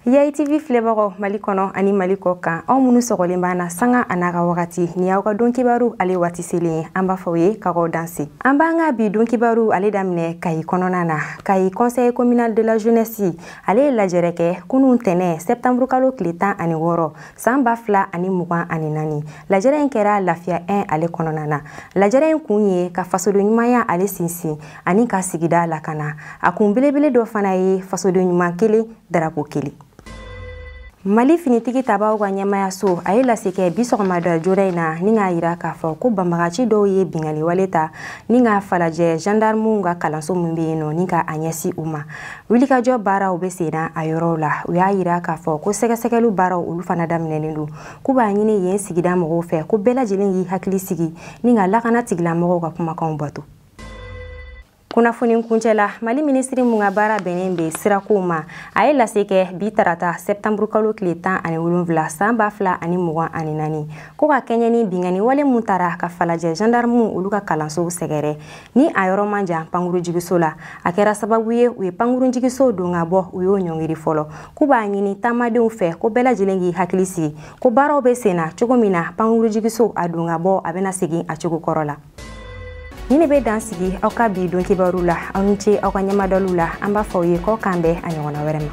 yayi tv filɛbagaw mali kɔnɔ ani mali kɔkan aw minnu sɔgɔlen b'an na sanga a n'a ka wagati nin y'aw ka don kibaru ale waati selen ye an b'a fɔ aw ye k'aw danse an b'an ka bi don kibaru ale daminɛ kayi kɔnɔna na kayi conseil communal de la jeunesse ale ye lajɛrɛ kɛ kunun tɛnɛ septembre kalo tile tan ani wɔɔrɔ san ba fila ani mugan ani naani lajɛrɛ in kɛra lafiya 1 ale kɔnɔna na lajɛrɛ in kun ye ka fasoden ɲumanya ale sinsin ani ka sigida lakana a kun belebele dɔ fana ye fasoden ɲuman kelen darapo kelen mali finitigi tabaw ka ɲɛmaayaso a ye lase kɛ bi sɔgɔmada joona in na ni k'a yira k'a fɔ ko banbagaci dɔw ye binkanni wale ta ni ka falajɛ gendarmew ka kalanso min bɛ yen nɔ ni ka a ɲɛsin u ma wulikajɔ baaraw bɛ senna a yɔrɔw la u y'a yira k'a fɔ ko sɛgɛsɛgɛliw baaraw olu fana daminɛnen don k'u b'a ɲini yen sigida mɔgɔw fɛ ko bɛɛ lajɛlen y'i hakili sigi ni ka lakana tigilamɔgɔw ka kumakanw bato kunnafoni kuncɛ la mali minisiri mun ka baara bɛnnen bɛ sirakow ma a ye lase kɛ bi tarata sɛtanburu kalo tile tan ani wolonwula san ba fila ani mugan ani naani ko ka kɛɲɛ ni binkanni wale mun tara ka falajɛ zandarmuw olu ka kalansow sɛgɛrɛ ni a yɔrɔ man jan pankuru jigiso la a kɛra sababu ye u ye pankuru jigiso don ka bɔ u y'o ɲɔngiri fɔlɔ k'u b'a ɲini taamadenw fɛ ko bɛɛ lajɛlen k'i hakili sigi ko baaraw bɛ senna cogo min na pankuru jigiso a don ka bɔ a bɛna segin a cogo kɔrɔ la nin de bɛ dan sigi aw ka bi don kibaru la aw ni ce aw ka ɲɛmadɔliw la an b'a fɔ aw ye k'aw k'an bɛn a ɲɔgɔnna wɛrɛ ma